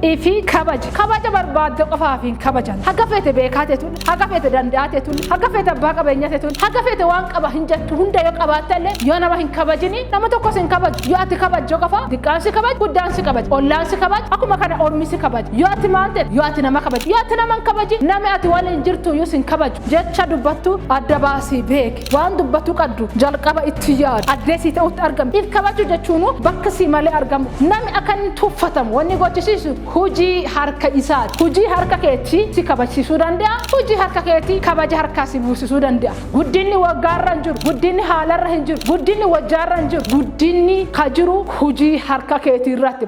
fi kabaji kabaja barbaadde qofaaf hin kabajan haga feete beekaa teetuun haga feete danda'aa teetuun haga feete abbaa qabeenyaa teetuun haga feete waan qaba hin jettu hunda yoo qabaatte illee yoo nama hin kabajini nama tokkos hin kabaju yoo ati kabajjo qofa diqqaan si kabaj guddaan si kabaj ollaan si kabaj akkuma kana ormi si kabaj yoo ati maal teet yoo ati nama kabaj yoo ati nama hin kabaji nami ati waliin jirtu iyyuu sin kabaju jecha dubbattu adda baasii beek. Waan dubbatu qaddu jalqaba itti yaadu. Addee sii ta'utti argamu. If kabaju jechuunu bakka sii malee argamu. Nami akka inni tuffatamu wanni gochisiisu hujii harka isaati. Hujii harka keeti si kabajsiisuu dande'a. Hujii harka keeti kabaja harkaa si buusisuu dande'a. Guddinni waggaarra hin jiru. Guddinni haalarra hin jiru. Guddinni wajjaarra hin jiru. Guddinni ka jiru hujii harka keetiirratti.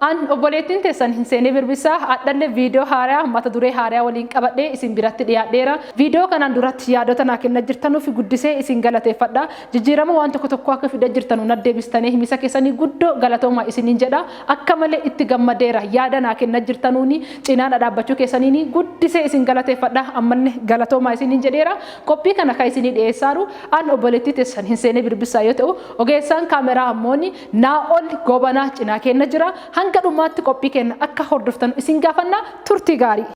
An obboleettiin teessan Hinseenee Birbissaa adhalle viidiyoo haaraya mata duree haaraya waliin qabadhee isin biratti dhiyaadheera. Viidiyoo kanaan duratti yaadota naa kenna jirtanuuf guddisee isin galateeffadha. Jijjiirama waan tokko tokkoo akka fida jirtanu nat deebistanee himisa keessanii guddoo galatooma isiniin jedha. Akka malee itti gammadeera. Yaada naa kenna jirtanuuni cinaa na dhaabbachuu keessaniini guddisee isin galateeffadha. Ammalle galatooma isiniin jedheera. Qophii kana kan isinii dhiyeessaaru an obboleettii teessan Hinseenee Birbissaa yoo ta'u ogeessaan kaameraa ammooni Naa'ol Goobanaa cinaa keenna jira. Hanga dhumaatti qophii keenna akka hordoftanu isin gaafanna. Turtii gaarii!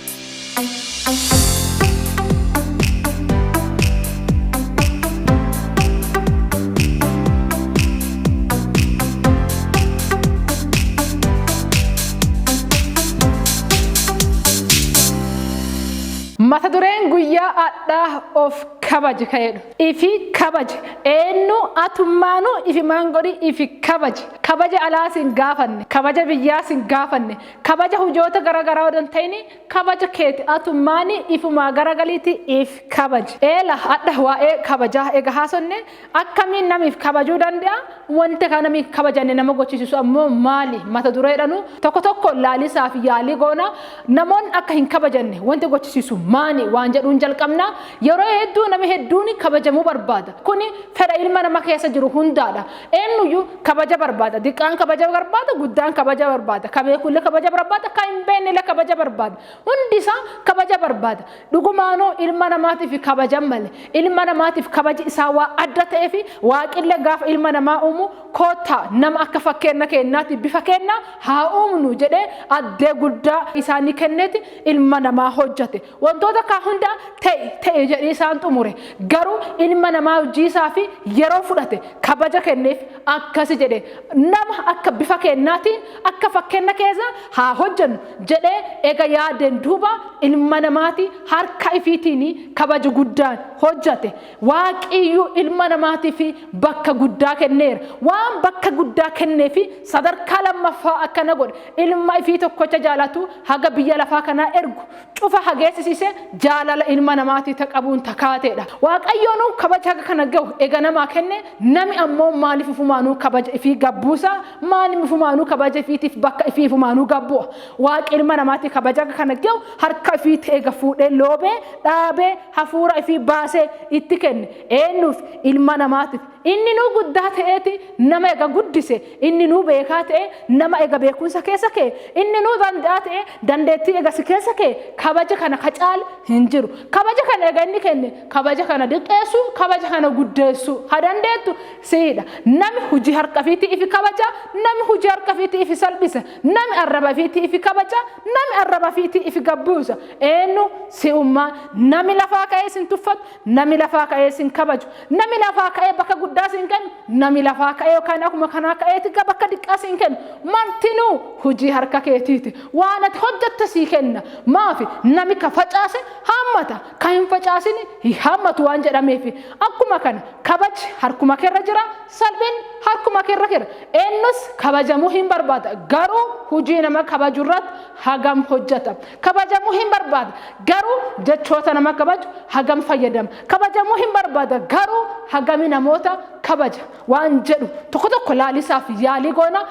Mata dureen guyyaa adhaa of kabaji ka'edha. Ifi kabaji. Eennu atummaanu ifimaan godhi ifi kabaji. Kabaja alaa sin gaafanne. Kabaja biyyaa sin gaafanne. Kabaja hujoota gara garaa odoo hin ta'ini kabaja keeti atummaani ifumaa gara galiiti if kabaji. Eela hadha waa'ee kabajaa ega haasonne akkamiin nami if kabajuu dande'a? Wanti kan namni hin kabajanne nama gochisiisu ammoo maali? Mata dureedhanu tokko tokko laalisaaf yaalii goona. Namoonni akka hin kabajanne wanti gochisiisu maani waan jedhuun jalqabna. Yeroo hedduu namni hedduun kabajamuu barbaada. Kuni fedha ilma nama keessa jiru hundaadha. Eenyuyyuu kabaja barbaada. Diqqaan kabaja barbaada, guddaan kabaja barbaada. Ka beekullee kabaja barbaada, ka hin beeknellee kabaja barbaada. Hundi isaa kabaja barbaada. Dhugumaanuu ilma namaatiif kabajan male. Ilma namaatiif kabaji isaa waa adda ta'eef waaqillee gaafa ilma namaa uumu koottaa nama akka fakkeenna keennaati bifa keenna haa uumnu jedhee addee guddaa isaanii kenneeti ilma namaa hojjate. Wantoota kaa hundaa ta'i ta'i jedhee isaan xumure. Garuu ilma namaa hojii isaafi yeroo fudhate kabaja kenneef akkasi jedhe nama akka bifa keennaatiin akka fakkeenna keessa haa hojjannu. jedhee ega yaadeen duuba ilma namaatii harka ifiitiin kabaja guddaan hojjate. Waaqiyyuu ilma namaatiif bakka guddaa kenneera. Waan bakka guddaa kenneef sadarkaa lammaffaa akkana godhe. Ilma ifii tokkocha jaalatu haga biyya lafaa kanaa ergu cufa hageessisiise jaalala ilma namaatii ta qabuun ta kaateedha. Waaqayyoonuu kabaja haga kana gahu ega namaa kenne nami ammoo maaliif ufumaanuu kabaja ifii gabbuusa? Maan ifumaanuu kabaja ifiitiif bakka ifii ifumaanuu gabbu'a. Waaqi ilma namaati kabaja kana ge'u harka ifiitti eega fuudhee loobee, dhaabee, hafuura ifii baasee itti kenne. Eennuuf? Ilma namaatiif. Inninuu guddaa te'eeti nama eega guddise, inninuu beekaa te'ee nama eega beekkumsa keessa keye, inninuu dande'aa te'ee dandeettii eega si keessa keye, kabaja kana ka caalu hin jiru. Kabaja kana eega inni kenne, kabaja kana diqqeessuu, kabaja kana guddeessuu ka dandeettu Siidha. Nami huji harka ifiitii ifi kabaja, nami huji harka ifiitii ifi salphisa, nami arraba ifiitii ifi kabaja, nami arraba ifiitii ifi gad buusa. Eennu? Si'umma. Nami lafaa ka'ee isin tuffatu, nami lafaa ka'ee isin kabaju, nami lafaa ka'ee bakka guddaa isin kennu, nami lafaa ka'ee yookaan akkuma kanaa ka'eeti ga bakka diqqaa isin kennu, martinuu hujii harka keetii ti. Waan ati hojjatte sii kenna. Maafi? Nami ka facaase haammata, Ka hin facaasini hin haammatu waan jedhameefi. Akkuma kana kabaji harkuma keerra jira, salphinni harkuma keerra jira. Eennus kabajamuu hin barbaada. Garuu hujii nama kabaju irratti hagam hojjata? Kabajamuu hin barbaada. Garuu jechoota nama kabaju hagam fayyadama? Kabajamuu hin barbaada. Garuu hagami namoota kabaja? waan jedhu tokko tokko laalisaaf yaalii goona.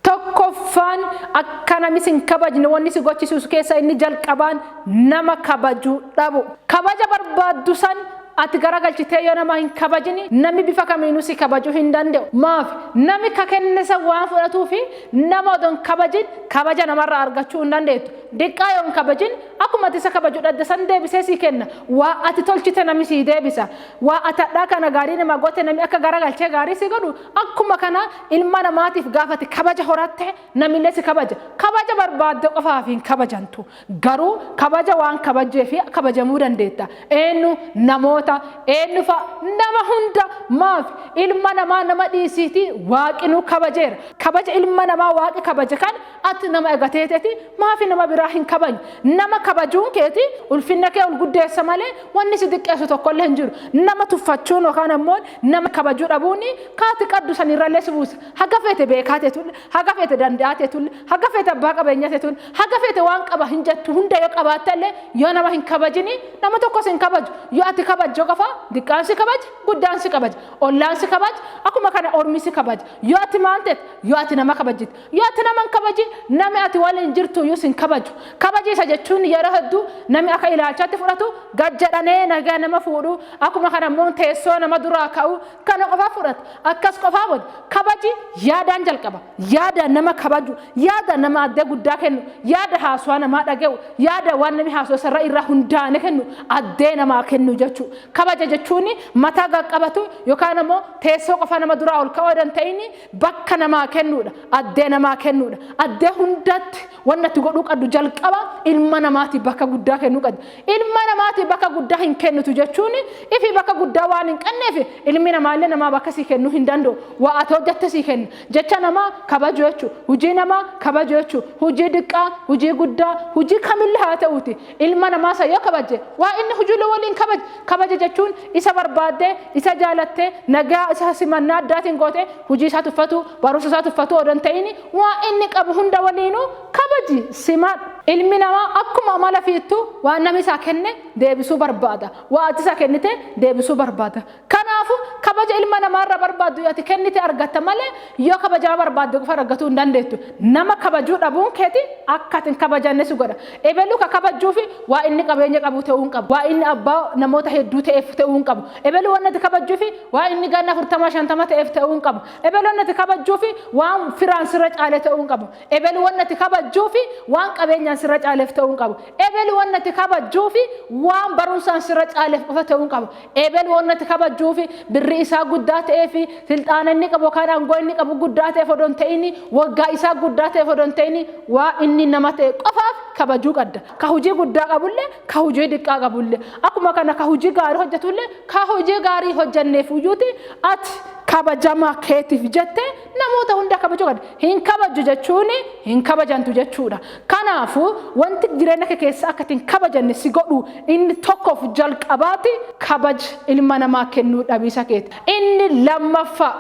Tokkoffaan akka namni sin kabajne wanni si gochisuus keessa inni jalqabaan nama kabajuu dhabu. Kabaja barbaaddu san ati garagalchitee yoo nama hin kabajini namni bifa kamiinuu si kabajuu hin danda'u. Maaf namni ka kennisa waan fudhatuufi nama odon kabajin kabaja namarraa argachuu hin dandeettu. Diqqaa yoo hin kabajin, akkuma ati isa kabaju dhadda san deebisee sii kenna. Waa ati tolchite nami sii deebisa. Waa ati hadhaa kana gaarii namaa goote nami akka garagalchee gaarii sii godhu, akkuma kana ilma namaatiif gaafa ati kabaja horatte namillee si kabaja. Kabaja barbaadde qofaaf hin kabajantu. Garuu kabaja waan kabajjeef kabajamuu dandeetta. Eennu? Namoota. Eennu fa'a? Nama hunda. Maaf? Ilma namaa nama dhiisiitii Waaqinuu kabajeera. Kabaja ilma namaa Waaqi kabaje kan Ati nama egatee teeti maafi nama biraa hin kabajne? Nama kabajuun keeti ulfinna kee ol guddeessa malee wanni si diqqeessu tokkollee hin jiru. Nama tuffachuun yookaan ammoo nama kabajuu dhabuun ka ati qaddu sanirrallee si buusa. Haga feete beekaa teetulle, haga feete danda'aa teetulle, haga feete abbaa qabeenyaa teetulle, haga feete waan qaba hin jettu hunda yoo qabaattellee yoo nama hin kabajini nama tokko si hin kabaju. Yoo ati kabajjo qofa diqqaan si kabaja, guddaan si kabaja, ollaan si kabaja, akkuma kana ormi si kabaja. Yoo ati maal teete? Yoo ati nama kabajjite. Yoo ati nama hin kabajin, nami ati waliin jirtuyyuu si hin kabaju. Kabajiisa jechuun yeroo hedduu nami akka ilaalchaatti fudhatu gad jedhanee nagaa nama fuudhuu, akkuma kana immoo teessoo nama duraa ka'uu kana qofa fudhata. Akkas qofaa moti. Kabaji yaadaan jalqaba. Yaada nama kabaju, yaada nama addee guddaa kennu, yaada haasawaa namaa dhaga'u, yaada waan nami haasawu sanirra irra hundaa'anii kennu addee namaa kennu jechuu. Kabaja jechuun mataa gad qabatu yookaan ammoo teessoo qofaa nama duraa ol ka'uu odoo hin ta'in Bakka namaa kennuudha. Addee namaa kennuudha. Addee hundaatti wanna itti godhuu qabdu jalqaba ilma namaatiif bakka guddaa kennuu qabdi. Ilma namaatiif bakka guddaa hin kennitu jechuun ifi bakka guddaa waan hin qabneef ilmi namaallee namaa bakka sii kennuu hin danda'u. Waa ati hojjatte sii kenna. Jecha namaa kabajuu jechuudha. Hujii namaa kabajuu jechuudha. Hujii diqqaa, hujii guddaa, hujii kamillee haa ta'uuti. Ilma namaa san yoo kabajje, waan inni hujulle waliin kabaji. Kabaja jechuun isa barbaaddee, isa jaalattee, nagaa isa simannaa addaatiin gootee, hujii isaa tuffatuu, barumsa isaa tuffatuu odoo hin ta'ini, waan inni qabu hunda waliinuu kabaji, simadhu. Ilmi namaa akkuma amala fiittuu waan namni isaa kenne deebisuu barbaada. Waan ati isa kennite deebisuu barbaada. Kanaafuu, kabaja ilma namaa irraa barbaaddu yoo ati kennite argatta malee yoo kabajaa barbaadde qofa argatuu hin dandeettu. Nama kabajuu dhabuun keeti akka ati hin kabajanne si godha. Ebelu ka kabajjuufi waa inni qabeenya qabu ta'uu hin qabu. Waa inni abbaa namoota hedduu ta'eef ta'uu hin qabu. Ebelu wanni ati kabajjuufi waa inni ganna afurtama shantama ta'eef ta'uu hin qabu. Ebelu wanni ati kabajjuufi waan firaan sirra caale ta'uu hin qabu. Ebelu wanni ati kabajjuufi waan qabeenyaan sirra caaleef ta'uu hin qabu. Ebelu wanni ati kabajjuufi waan barumsaan sirra caaleef qofa ta'uu hin qabu. Eebel wanta ati kabajjuuf, birrii isaa guddaa ta'eef, silxaana inni qabu yookaan aangoo inni qabu guddaa ta'eef odoo hin ta'in, waggaa isaa guddaa ta'eef odoo hin ta'in, waan inni nama ta'e qofaaf kabajuu qabda. Ka hujii guddaa qabullee, ka hujii diqqaa qabullee, akkuma kana ka hujii gaarii hojjatullee, ka hujii gaarii hin hojjanneefuyyuuti ati kabajama keetiif jettee Namoota hunda kabajuu qabda. Hin kabajju jechuun hin kabajantu jechuudha. Kanaafuu wanti jireenya kee keessa akka hin kabajanne si godhu inni tokkoof jalqabaati kabaj ilma namaa kennuu dhabiisa keeti. Inni lammaffaa.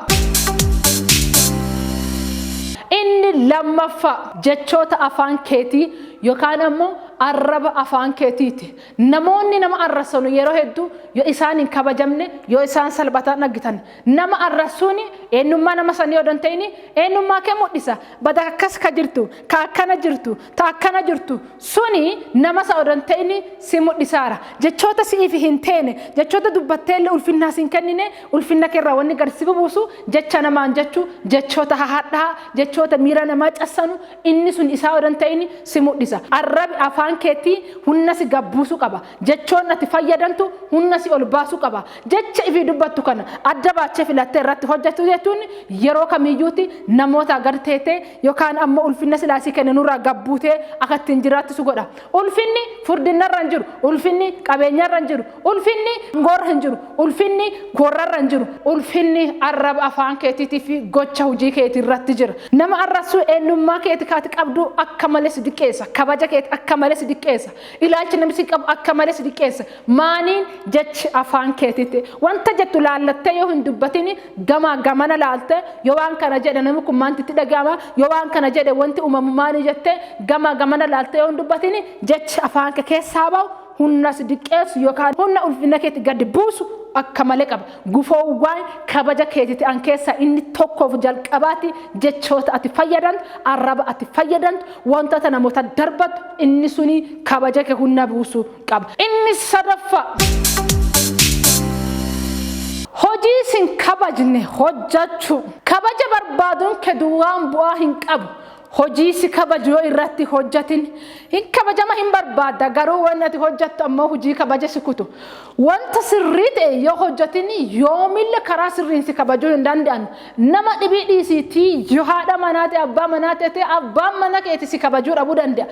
Inni lammaffaa jechoota afaan keetii yookaan ammoo arraba afaan keetiiti. Namoonni nama arrasanu yeroo hedduu yoo isaan hin kabajamne yoo isaan salphataan dhagitan Nama arrassuun eennummaa nama sanii odoo hin ta'in eennummaa kee mudhisa. Bada akkas ka jirtu, ka akkana jirtu, ta akkana jirtu suni nama san odoo hin ta'in si mudhisaara. Jechoota si'iif hin teene, jechoota dubbatteelle ulfinnaa si hin kennine, ulfinna kee irraa wanni gad si bubuusu jecha namaan jechu, jechoota hahadhaa, jechoota miira namaa cassanu inni sun isaa odoo hin ta'in si mudhisa. Arrabi afaan keetii hunna si gad buusu qaba. Jechoonni ati fayyadantu humna si ol baasuu qaba. Jecha ifii dubbattu kana adda baachee filattee irratti hojjechuu jechuun yeroo kamiyyuuti namootaa gad teetee yookaan ammoo ulfinna silaa si kenne nurraa gad buutee akka ittiin jiraattu si godha. Ulfinni furdinnarra hin jiru. Ulfinni qabeenyarra hin jiru. Ulfinni angoorra hin jiru. Ulfinni koorrarra hin jiru. Ulfinni arraba afaan keetiitii fi gocha hojii keetii irratti jira. Nama arrabsuu eenyummaa keeti kaati qabduu akka malee si diqqeessa. Kabaja keeti akka malee si diqqeessa. Ilaalchi namni si qabu akka malee si xiqqeessa. Maaniin jechi afaan keetiitti. Wanta jettu laallattee yoo hin dubbatin gamaa gamana laalte yoo waan kana jedhe namni kun maanti itti dhaga'ama yoo waan kana jedhe wanti uumamu maanii jette gamaa gamana laalte yoo hin dubbatin jechi afaan kee keessaa ba'u humna si diqqeessu yookaan humna ulfina keetti gadi buusu akka malee qaba. Gufoowwan kabaja keetii ta'an keessaa inni tokkoof jalqabaati jechoota ati fayyadamtu, arraba ati fayyadamtu, Wantoota namoota darbattu inni suni kabaja kee hunna buusu qaba. Inni sadaffaa hojii isin kabajne hojjachuu. Kabaja barbaaduun kee duwwaan bu'aa hin qabu. Hojii si kabaju yoo irratti hojjatin hin kabajama hin barbaadda garuu wanni ati hojjattu ammoo hojii kabaja si kutu. Wanta sirrii ta'e yoo hojjatin yoomille karaa sirriin si kabajuu hin danda'an. Nama dhibii dhiisii tii yo haadha manaa tee abbaa manaa tete abbaan mana keeti si kabajuu dhabuu dande'a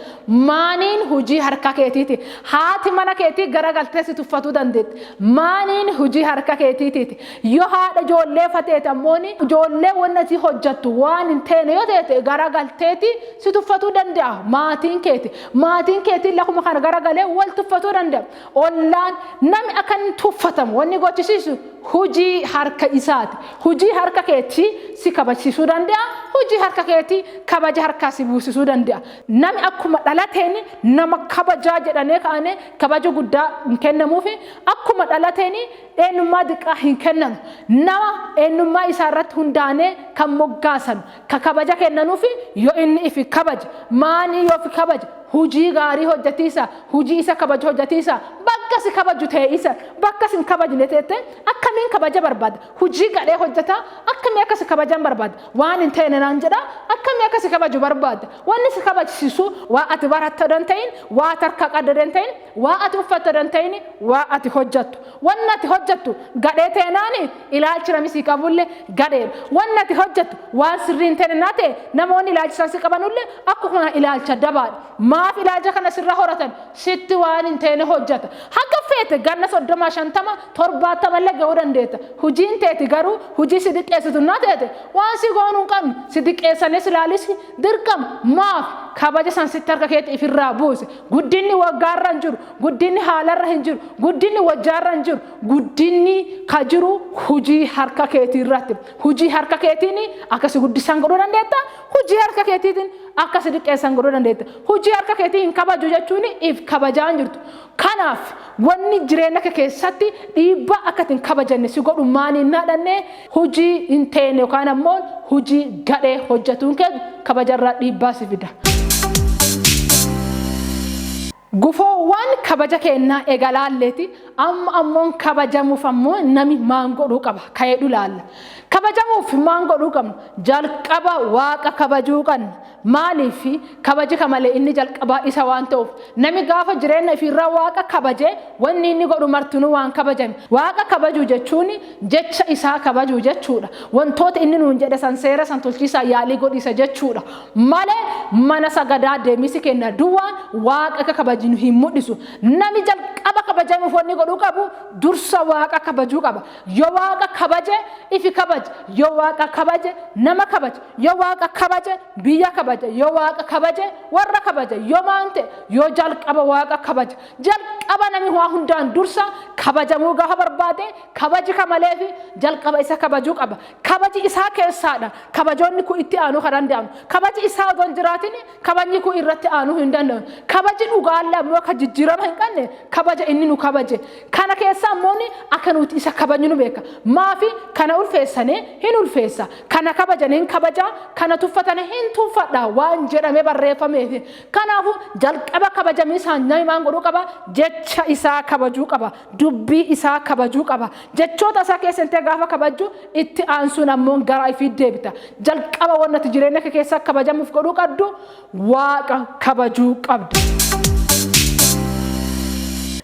maaniin hujii harka keetiiti haati mana keetii gara galtee si tuffatuu dandeetti maaniin hujii harka keetiitiiti yo haadha ijoollee fa teete ammooni ijoollee wanni atii hojjattu waan hin teene yo teete gara galteeti si tuffatuu dande'a maatiin keeti maatiin keetiin lakuma kana gara galee wal tuffatuu dande'a Ollaan nami akka inni tuffatamu wanni gochisiisu hujii harka isaati. Hujii harka keetii si kabajsiisuu danda'a, hujii harka keetii kabaja harkaa si buusisuu danda'a. Nami akkuma dhalateen nama kabajaa jedhanee kaanee kabaja guddaa hin kennamuufi, akkuma dhalateen eenyummaa diqqaa hin kennanu. Nama eenyummaa isaa irratti hundaanee kan moggaasanu, Ka kabaja kennanufi yo inni ifi kabaje, maani yo ufi kabaje, hujii gaarii hojjatiisa, hujii isa kabaju hojjatiisa, bakka si kabaju tee'iisa, bakka si hin kabajne teettee, akkamiin kabaja barbaadda? Hujii gadhee hojjataa, akkamii akka si kabajan barbaadda? Waan hin teene naan jedhaa, akkamii akka si kabaju barbaadda? Wanni si kabajsiisu, waan ati baratte odo hin te'in, waan ati harkaa qadde odo hin te'in, waan ati uffatte odo hin te'in, waan ati hojjattu. Wanni ati hojjattu gadhee teenaani ilaalchi nami sii qabulle gadheedha. Wanni ati hojjattu waan sirrii hin teene naa ta'e namoonni ilaalcha san si qabanulle akkuma kana ilaalcha dabaadha. Maaf ilaalcha kana sirra horatan? Sitti waan hin teene hojjata. Haga feete ganna soddoma, shantama, torbaattamalle ga'uu dandeetta. Hujiin teeti garuu hujii si diqqeessitu naa teete waan si goonu hin qabnu. Si diqqeessanii si laalusi dirqama. Maaf? Kabaja san sitti harka keeti ifirraa buuse. Guddinni waggaarra hin jiru, guddinni haalarra hin jiru, guddinni wajjaarra hin jiru, guddinni ka jiru hujii harka keetii irratti. Hujii harka keetiin akka si guddisan godhuu dandeetta, hujii harka keetiitiin akka si diqqeessan godhuu dandeetta. Hujii harka keetii hin kabaju jechuun if kabajaa hin jirtu. Kanaaf wanni jireenya kee keessatti dhiibbaa akka itti hin kabajanne si godhu maani hin dhaadhanne Hujii hin teene yookaan ammoo hujii gadhee hojjatuun kee kabajarraa dhiibbaa si fida. Gufoowwaan kabaja keennaa ega laalleeti amma ammoon kabajamuuf ammoo nami maan godhuu qaba ka'eedhu laalla. Kabajamuuf maan godhuu qabna? Jalqaba waaqa kabajuu qabna. Maaliif? Kabaji ka male inni jalqabaa isa waan ta'uuf. Nami gaafa jireenna ifii irraa Waaqa kabaje, wonni inni godhu martinuu waan kabajame. Waaqa kabajuu jechuun jecha isaa kabajuu jechuu dha. Wontoota inni nuun jedhe san seera san tolchiisaaf yaalii godhiisa jechuu dha. Malee mana sagadaa deemiisi keenna duwwaan Waaqa akka kabajinu hin mudhisu. Nami jalqaba kabajamuuf wonni godhuu qabu dursa Waaqa kabajuu qaba. Yo Waaqa kabaje, ifi kabaja. Yo Waaqa kabaje, nama kabaja. Yo Waaqa kabaje, biyya kabaja. Yo Waaqa kabaje, worra kabaja. Yo maan te'e? Yo jalqaba Waaqa kabaja. Jalqaba nami waan hundaan dursa kabajamuu gaafa barbaade, kabaji ka maleefi jalqaba isa kabajuu qaba. Kabaji isaa keessaa dha kabajoonni kun itti aanuu ka danda'anu. Kabaji isaa odoo hin jiraatin Kabajni kun irratti aanuu hin danda'u. Kabaji dhugaalla immoo kan jijjiirama hin qabne kabaja inni nu kabaje. Kana keessa immoo akka nuti isa kabajnu beeka. Maafi kana ulfeessane hin ulfeessa. Kana kabajane hin kabaja. Kana tuffatane hin tuffadha waan jedhame barreeffameefi. Kanaafuu jalqaba kabajamii isaa nami maan godhuu qaba? Jecha isaa kabajuu qaba. Dubbii isaa kabajuu qaba. Jechoota isaa keessa intee gaafa kabajju itti aansuun ammoo gara ifiit deebita. Jalqaba wanni ati jireenya kee keessa akka kabajamuuf godhuu qabdu waaqa kabajuu qabda.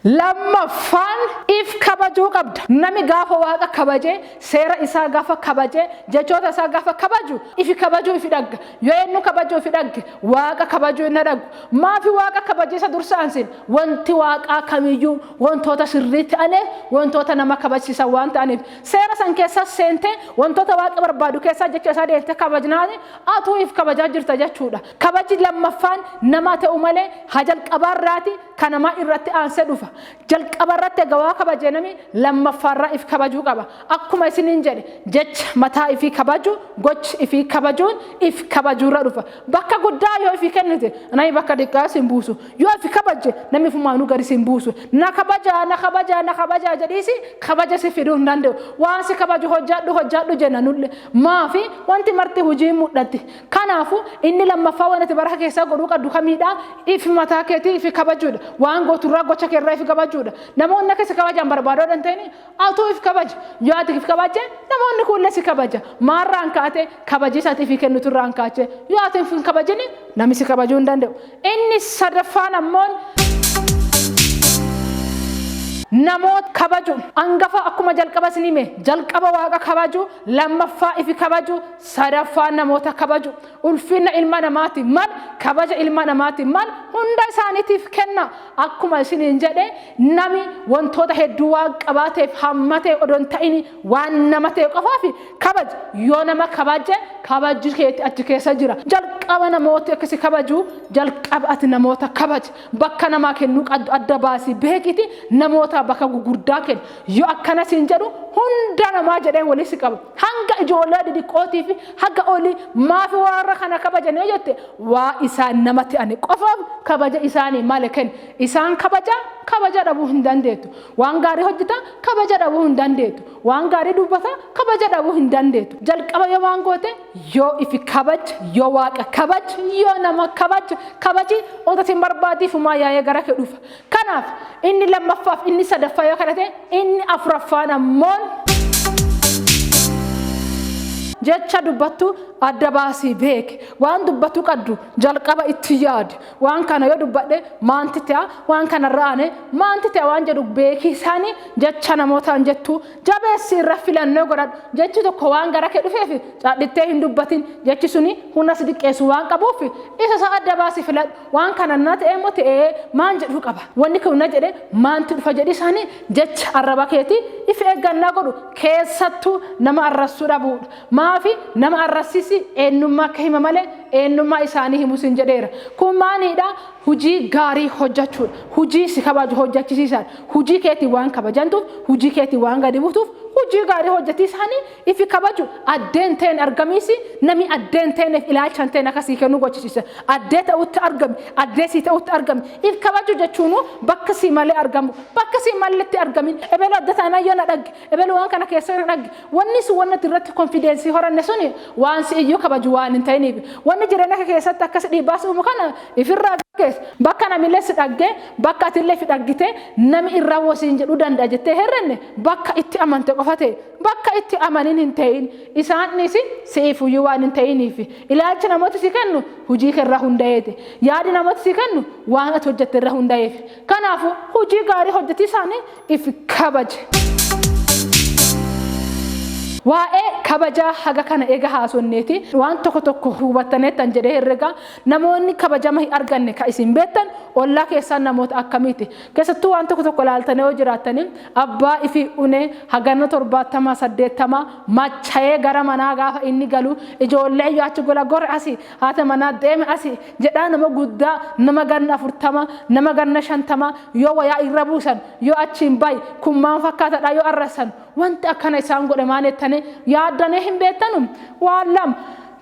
Lammaffaan if kabajuu qabda. Nami gaafa waaqa kabaje, seera isaa gaafa kabaje, jechoota isaa gaafa kabaju ifi kabajuu ifi dhagga. Yoo eenyu kabajuu ifi dhagge Waaqa kabajuu hin dhadhagu. Maafi Waaqa kabaje isa dursaan sin? Wanti Waaqaa kamiyyuu wantoota sirrii ta'aniif, wantoota nama kabajsiisan waan ta'aniif. Seera san keessas seentee wantoota Waaqi barbaadu keessaa jecha isaa deelte kabajnaani atuu if kabajaa jirta jechuudha. Kabaji lammaffaan namaa ta'uu malee ha jalqabaarraati ka namaa irratti aansee dhufa. Jalqaba irratti ega waa kabaje nami lammaffaa irra if kabajuu qaba. Akkuma isiniin jedhe jecha mataa ifii kabaju gochi ifii kabajuun if kabajuu irra dhufa. Bakka guddaa yoo ifii kennite nami bakka diqqaa si hin buusu. Yoo if kabajje nami ifumaanuu gadi si hin buusu. Na kabajaa na kabajaa na kabajaa jedhiisi kabaja sif fiduu hin dande'u. Waan si kabaju hojjadhu hojjadhu jenna nulle. Maafi wanti marti hujiin mudhatti. Kanaafuu, inni lammaffaa waan ati baraka keessaa godhuu qabdu kamiidha? Ifi mataa keetii ifi kabajuudha. Waan gootu irraa gocha kee irraa ifi kabajuudha. Namoonni akka si kabajaan barbaadoo dhan ta'ini atuu if kabaji. Yoo ati if kabajje namoonni kuullee si kabaja. Maarraan kaate kabajii isaati ifi kennutu irraan kaache. Yoo ati hin kabajini nami si kabajuu hin danda'u. Inni sadaffaan ammoon namoota kabaju. Angafa akkuma jalqaba isin hime jalqaba waaqa kabaju lammaffaa ifi kabaju Sadaffaan namoota kabaju. Ulfinna ilma namaatiif mal, kabaja ilma namaatiif mal hunda isaaniitiif kenna. Akkuma isiniin jedhe nami wantoota hedduu waan qabaateef hamma ta'e odoo hin ta'ini waan nama ta'e qofaaf kabaja. Yoo nama kabaje kabajji keeti achi keessa jira. Jalqaba namooti akka si kabaju jalqaba ati namoota kabaji. Bakka namaa kennuu qaddu adda baasii beekiiti namoota bakka gugurdaa kenni. Yoo akkana siin jedhu hunda namaa jedhee walii si qaba. Hanga ijoollee didiqqootii fi haga olii maafi warra kana kabajan yoo jette waa isaan nama ta'ani qofaaf kabaja isaanii male kenna. Isaan kabaja kabaja dhabuu hin dandeettu. Waan gaarii hojjeta kabaja dhabuu hin dandeettu. Waan gaarii dubbata kabaja dhabuu hin dandeettu. Jalqaba yoo waan goote yoo ifi kabaj yoo waaqa kabaj yoo nama kabaj kabaji otoo sin barbaadii fumaa yaa'ee gara kee dhufa. Kanaaf inni lammaffaaf inni sadaffaa yoo kana ta'e inni afuraffaan ammoon jecha dubbattu adda baasii beeki waan dubbattu qaddu jalqaba itti yaadi waan kana yoo dubbadhe maanti ta'a waan kana irra aane maanti ta'a waan jedhu beeki isaani jecha namootaan jettu jabeessi irra filannoo godhadhu jechi tokko waan gara kee dhufeef cadhittee hin dubbatin jechi suni humna si diqqeessu waan qabuuf isa isaa adda baasii filadhu waan kana na ta'e immoo ta'ee maan jedhu qaba wanni kun na jedhe maantu dhufa jedhi isaanii jecha arraba keetii if eeggannaa godhu keessattuu nama arrassuu dhabuudha maafi nama arrassisi eenyummaa akka hima malee eenyummaa isaanii himu sin jedheera kun maaliidha hujii gaarii hojjechuudha hujii si kabaju hojjechisiisaan hujii keetii waan kabajantuuf hujii keetii waan gadi buutuuf hujii gaarii hojjetii isaanii Ifi kabaju addee hin ta'een argamiisi nami addee hin ta'eeneef ilaalcha hin ta'een akka sii kennu gochisiisa. Addee ta'utti argami, addee sii ta'utti argami. If kabaju jechuunu bakka sii malee argamu, bakka sii malletti argamin. Ebelu adda taanaan yoo na dhagge, ebelu waan kana keessa yoo na dhagge, wanni sun wanni ati irratti konfideensii horanne suni waan si iyyuu kabaju waan hin ta'iniif. Wanni jireenya kee keessatti akkas dhiibbaa si uumu kana ifirraa gaggeessi. Bakka namillee si dhagge, bakka atillee ifi dhaggite nami irraa woo siin jedhuu danda'a jettee hin herrenne bakka itti amante qofa ta'e. Bakka itti amanin hin ta'in. Isaan dhiisi si'iif huyyuu waan hin ta'iniif. Ilaalchi namooti si kennu hujii kee irra hunda'eeti. Yaadi namooti si kennu waan ati hojjatte irra hunda'eef. Kanaafu hujii gaarii hojjatiisaani if kabaji. Waa'ee kabajaa haga kana eega haasonneeti waan tokko tokko hubattaneettan jedhee herrega. Namoonni kabajama hin arganne ka isin beettan ollaa keessaan namoota akkamiiti? Keessattuu waan tokko tokko ilaaltanii yoo jiraattanii abbaa ifii unee haganna torbaattamaa saddeettamaa machayee gara manaa gaafa inni galu ijoollee iyyuu achi gola gor asi haata manaa deeme asi jedhaa nama guddaa nama ganna afurtama nama ganna shantama yoo wayaa irra buusan yoo achiin bayi kun maan fakkaatadha yoo arrassan wanti akkana isaan godhe maan jettanii yaaddanii hin beettanu waan lama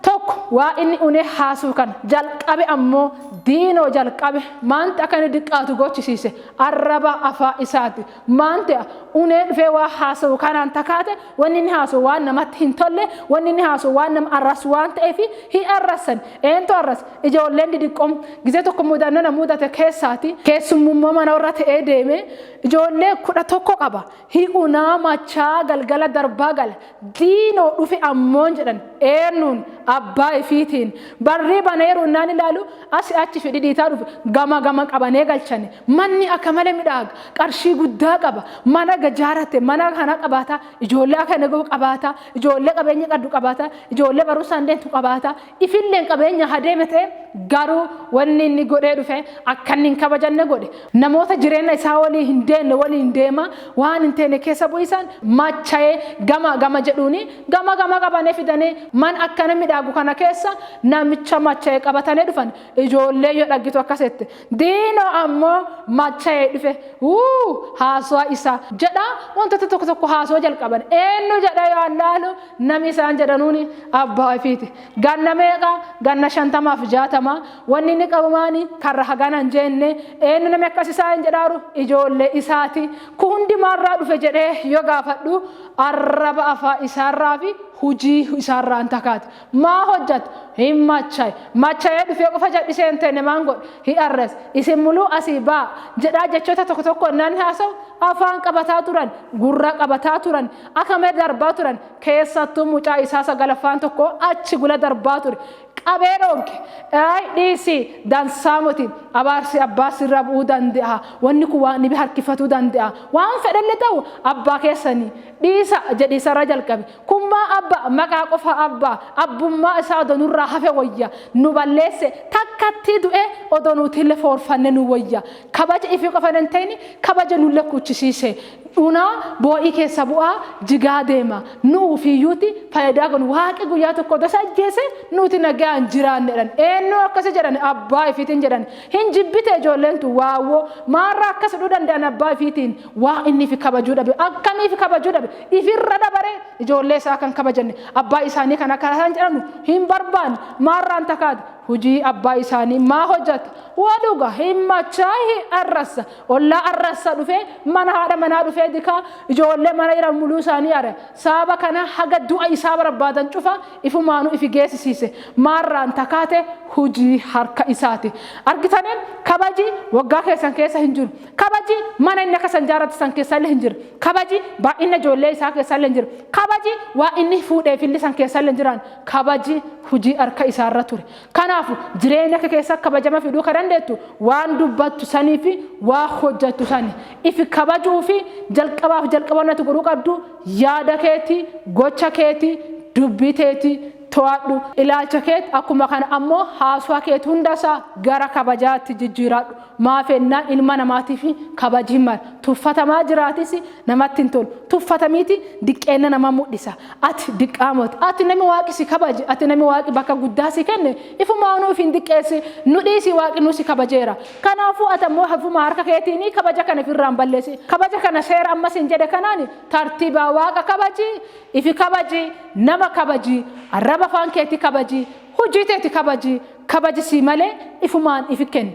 Tokko waa inni unee haasuu kana jalqabe ammoo diinoo jalqabe maanti akka inni diqqaatu gochisiise arraba afaa isaati. Maanti unee dhufee waa haasawu kanaan takaate wanni inni haasawu waan namatti hin tolle wanni inni haasawu waan nama arrasu waan ta'eefi hin arrassan. Eentu arrasa? Ijoolleen didiqqoon gizee tokko mudannoo na mudate keessaati. Keessummummoo mana warra ta'ee deeme ijoollee kudha tokko qaba. Hi unaa machaa galgala darbaa gala diinoo dhufe ammoon jedhan eennuun abbaa ifiitiin barrii baneeru innaan ilaalu asi achi fi dhidhiitaa dhufe gama gama qabanee galchane manni akka male midhaaga qarshii guddaa qaba mana gajaarate mana kana qabaata ijoollee akka nagoo qabaata ijoollee qabeenya qaddu qabaata ijoollee barumsaan deemtu qabaata Ifilleen qabeenya haa deeme ta'e garuu wanni inni godhee dhufe akka inni hin kabajanne godhe. Namoota jireenna isaa walii hin deenne waliin deema waan hin teene keessa bu'iisaan machaye gama gama jedhuuni gama gama qabane fidanii man akkana midhaagu kana keessa namicha machaye qabatane dhufan ijoollee yoo dhaggitu akkas jette diino ammo machaye dhufe wuu haasuwa isa jedha wantoota tokko tokko haasuwa jalqaban eennu jedha yoo allaalu Nami isaan jedhanuuni abbaa ifiiti. Ganna meeqa? Ganna shantama fi jaatama. Wonni inni qabu maani? Karra hagana hin jeenne. Eennu nami akkas isaaniin jedhaaru? Ijoolle isaati. Kun hundi maan irraa dhufe jedhee yoo gaafadhu, arraba afaan isaa irraa fi hujii isaa irraa hin takaati. Maa hojjate? Hin machaye. Machayee dhufee qofa jal'isee hin teenne maan godhe? Hi arrase. Isin muluu asii ba'a! jedhaa jechoota tokko tokko hennaa inni haasawu, afaan qabataa turan, gurra qabataa turan. Akame darbaa turan keessattuu mucaa isaa sagalaffaan tokko achi gula darbaa ture qabee dhoonke ayi dhiisi dansaa moti abaarsi abbaa sirra bu'uu dande'a wanni kun waan dhibi harkifatuu dande'a waan fedhelle ta'u abbaa keessani dhiisa jedhi isarra jalqabe kun maa abba maqaa qofa abba abbummaa isaa odo nurraa hafe wayya nu balleesse takkattii du'e odo nuutille foorfanne nu wayya kabaja ifi qofa hin ta'ini kabaja nulle kuchisiise dhunaa boo'ii keessa bu'aa jigaa deema nu ufiiyyuuti fayidaa kun waaqi guyyaa tokko odas ajjeese nuuti nagayaan jiraanne jedhan eennuu akkasi jedhan abbaa ifiitiin jedhan hin jibbite ijoolleen tun waawwoo maarraa akkas hudhuu danda'an abbaa ifiitiin waa inni ifi kabajuu dhabe akkamii ifi kabajuu dhabe ifirra dabaree ijoollee isaa kan kabajanne abbaa isaanii kan akka isaan jedhamu hin barbaanne maarraan takaati hujii abbaa isaanii maa hojjata waa dhuga hin machaahi arrassa Ollaa arrassa dhufee mana haadha manaa dhufee dikaa ijoollee mana iran muluu isaanii are sababa kana haga du'a isaa barbaadan cufa ifumaanu ifi geesisiise maarraan takaate hujii harka isaati argitani kabaji waggaa keessan keessa hin jiru kabaji mana inni akka san jaarrate san keessalle hin jira kabaji baay'inna ijoollee isaa keessalle hin jira kabaji waa inni fuudheefille san keessalle hin jiraan kabaji hujii harka isaarra ture Kanaafu, jireenya kee keessa kabajama fiduu ka dandeettu waan dubbattu sanii fi waa hojjattu sani. Ifi kabajuu fi jalqabaa fi jalqaba wanni ati godhuu qabdu yaada keeti, gocha keeti, dubbii teeti to'adhu. Ilaalcha keet akkuma kana ammoo haaswa keet hunda isaa gara kabajaatti jijjiiradhu. Maaf ennaa ilma namaatiif kabaji mar, tuffatamaa jiraatis namatti hin tolu. Tuffatamiiti diqqeenna nama mudhisa. Ati diqqaa moti. Ati nami Waaqi si kabaje, ati nami Waaqi bakka guddaa si kenne, ifumaanuu ifi hin diqqeessi. Nu dhiisi Waaqinuu si kabajeera. Kanaafuu ati ammoo hafuma harka keetiinii kabaja kana ifi irraan balleessi. Kabaja kana seera amma siin jedhe kanaan tartiibaa Waaqa kabaji, ifi kabaji, nama kabaji, arraba afaan keetii kabaji, hujii teeti kabaji, Kabaji sii malee ifumaan ifi kenni.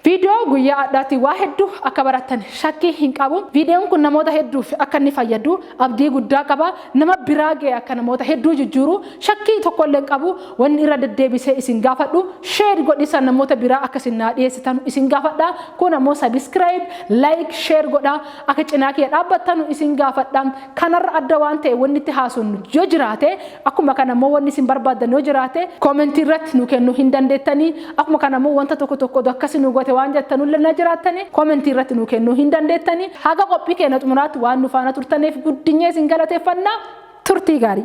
Viidiyoo guyyaa adhaati waa heddu akka barattan shakkii hin qabu. Viidiyoon kun namoota hedduuf akka inni fayyadu abdii guddaa qaba. Nama biraa ga'e akka namoota hedduu jijjiiru shakkii tokko illee hin qabu. Wanni irra deddeebisee isin gaafadhu share godhiisa namoota biraa akka isin naa dhiyeessitanu isin gaafadha. Kun ammoo subscribe, like, share godhaa akka cinaa kiyya dhaabbattanu isin gaafadha. Kanarra adda waan ta'e wanni itti haasofnu yoo jiraate, akkuma kana immoo wanni isin barbaaddan yoo jiraate, comment irratti nuu kennuu hin dandeettani. Akkuma kana immoo wanta tokko tokko odoo akkasi nuu goote waan jettanu illee na jiraattani, comment irratti nuu kennuu hin dandeettani. Haga qophii keenya xumuraatti waan nu faana turtaneef guddinyee isin galateeffanna. Turtii gaarii!